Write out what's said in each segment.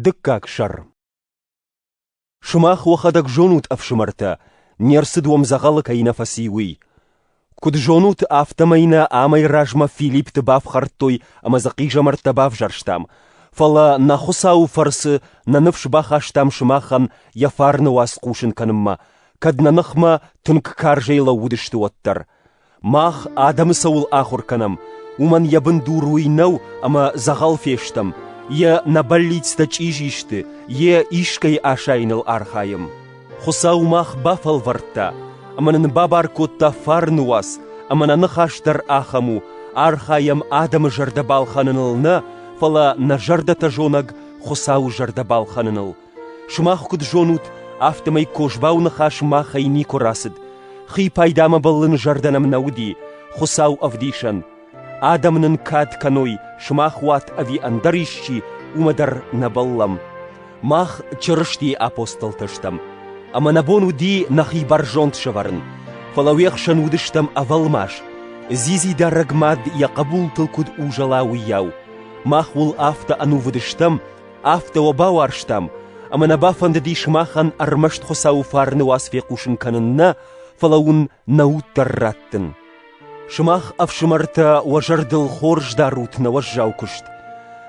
Дыккаг сӕр Сымах уӕхӕдӕг зонут, ӕфсымӕртӕ, не рцыд уӕм дзӕгъӕлы кӕй нӕ фӕци, уый. Куыд зонут, афтӕмӕй нӕ амӕй размӕ Филиппты бафхӕрдтой ӕмӕ дзы хъизӕмӕрттӕ бавзӕрстам, фӕлӕ нӕ Хуыцауы фӕрцы нӕ ныфс бахастам сымахӕн йӕ фарны уац хъусын кӕнынмӕ, кӕд нӕ ныхмӕ тынг карзӕй лӕууыдысты уӕддӕр. Мах адӕмы цӕуыл ахуыр кӕнӕм, уымӕн йӕ бындур уый нӕу, ӕмӕ дзӕгъӕл фестӕм, йӕ нӕ бӕллицтӕ чъизи сты, йе искӕй асайыныл архайӕм. Хуыцау мах бафӕлвӕрдта, ӕмӕ нын бабар кодта фарны уац, ӕмӕ нӕ ныхас дӕр ахӕм у, архайӕм адӕмы зӕрдӕ балхӕныныл нӕ, фӕлӕ нӕ зӕрдӕтӕ зонӕг Хуыцауы зӕрдӕ балхӕныныл. Сымах куыд зонут, афтӕмӕй Козбауы ныхас махӕй никуы рацыд. Хи пайдамӕ бӕллын зӕрдӕ нӕм нӕ уыди, Хуыцау ӕвдисӕн. Адӕм нын кад кӕной, сымах уат ӕви ӕндӕр исчи, уымӕ дӕр нӕ бӕллӕм. Мах Чырыстийы апостолтӕ стӕм, ӕмӕ нӕ бон уыди нӕхи бӕрзонд сӕвӕрын, фӕлӕ уе хсӕн уыдыстӕм ӕвӕлмас, дзидзидарӕг мад йӕ хъӕбултыл куыд узӕла, уыйау. Мах уыл афтӕ ӕнувыд стӕм, Афтӕ уӕ бауарзтам, ӕмӕ нӕ бафӕндыдис махӕн ӕрмӕст Хуыцауы фарны уац фехъусын кӕнын нӕ, фӕлӕ уын нӕ уд дӕр раттын. Сымах, ӕфсымӕртӕ, уӕ зӕрдыл хорз дарут нӕ уӕззау куыст,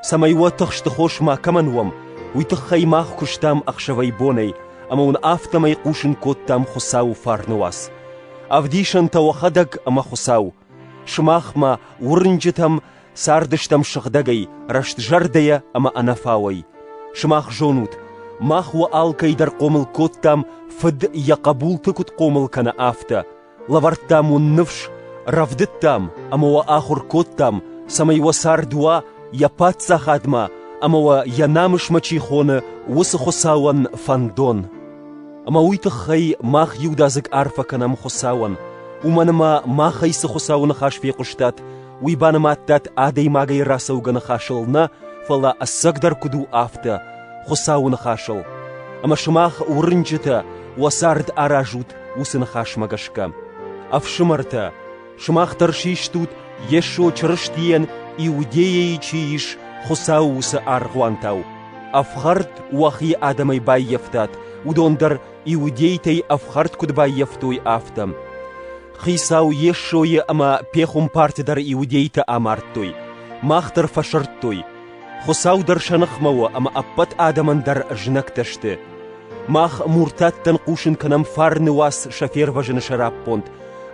цӕмӕй уӕ тыхсты хос ма кӕмӕн уӕм, уый тыххӕй мах куыстам ӕхсӕвӕй-бонӕй, ӕмӕ уын афтӕмӕй хъусын кодтам Хуыцауы фарны уац. Ӕвдисӕнтӕ уӕхӕдӕг ӕмӕ Хуыцау, Сымах мӕ, уырнджытӕм, цардыстӕм сыгъдӕгӕй, рӕстзӕрдӕйӕ ӕмӕ ӕнӕфауӕй. Сымах зонут, мах уӕ алкӕйдӕр хъомыл кодтам, Фыд йӕ хъӕбулты куыд хъомыл кӕны, афтӕ. Лӕвӕрдтам уын ныфс, рӕвдыдтам ӕмӕ уӕ ахуыр кодтам, цӕмӕй уӕ цард уа йӕ паддзахадмӕ ӕмӕ уӕ йӕ намысмӕ чи хоны, уыцы Хуыцауӕн фӕндон. Ӕмӕ уый тыххӕй мах иудадзыг арфӕ кӕнӕм Хуыцауӕн, уымӕн ӕмӕ махӕй цы Хуыцауы ныхас фехъуыстат, уый банымадтат адӕймагӕй рацӕугӕ ныхасыл нӕ, фӕлӕ ӕцӕгдӕр куыд у афтӕ Хуыцауы ныхасыл. Ӕмӕ сымах уырнджытӕ уӕ цард аразут уыцы ныхасмӕ гӕсгӕ. Ӕфсымӕртӕ, Сымах дӕр систут Йесо Чырыстийӕн Иудейӕйы чи ис, Хуыцауы уыцы аргъуантау. Ӕфхӕрд уӕхи адӕмӕй баййӕфтат, уыдон дӕр иудейтӕй ӕфхӕрд куыд баййӕфтой, афтӕ. Хицау Йесойы ӕмӕ пехуымпарты дӕр иудейтӕ амардтой. Мах дӕр фӕсырдтой. Хуыцау дӕр сӕ ныхмӕ у ӕмӕ ӕппӕт адӕмӕн дӕр знӕгтӕ сты. Мах муртаттӕн хъусын кӕнӕм фарны уац сӕ фервӕзыны сӕраппонд,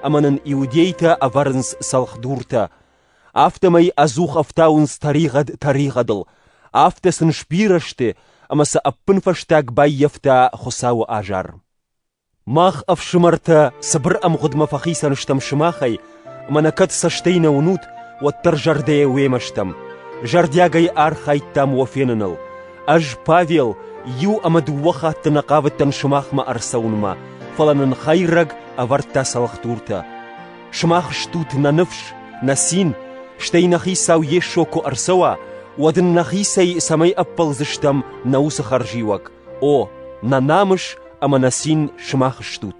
ӕмӕ нын иудейтӕ ӕвӕрынц цӕлхдуртӕ. Афтӕмӕй ӕдзух ӕфтауынц тӕригъӕд тӕригъӕдыл, афтӕ сын сбирӕ сты, ӕмӕ сӕ ӕппынфӕстаг баййӕфта Хуыцауы азар. Мах, ӕфсымӕртӕ, цыбыр ӕмгъуыдмӕ фӕхицӕн стӕм сымахӕй, ӕмӕ нӕ кӕд цӕстӕй нӕ уынут, уӕддӕр зӕрдӕйӕ уемӕ стӕм. Зӕрдиагӕй архайдтам уӕ феныныл. Ӕз, Павел, иу ӕмӕ дыууӕ хатты нӕ хъавыдтӕн сымахмӕ ӕрцӕуынмӕ, фӕлӕ нын хӕйрӕг ӕвӕрдта цӕлхдуртӕ. Сымах стут нӕ ныфс, нӕ цин, стӕй нӕ Хицау Йесо куы ӕрцӕуа, уӕд ын нӕхицӕй цӕмӕй ӕппӕлдзыстӕм нӕ уыцы хӕрзиуӕг. О, нӕ намыс ӕмӕ нӕ цин сымах стут.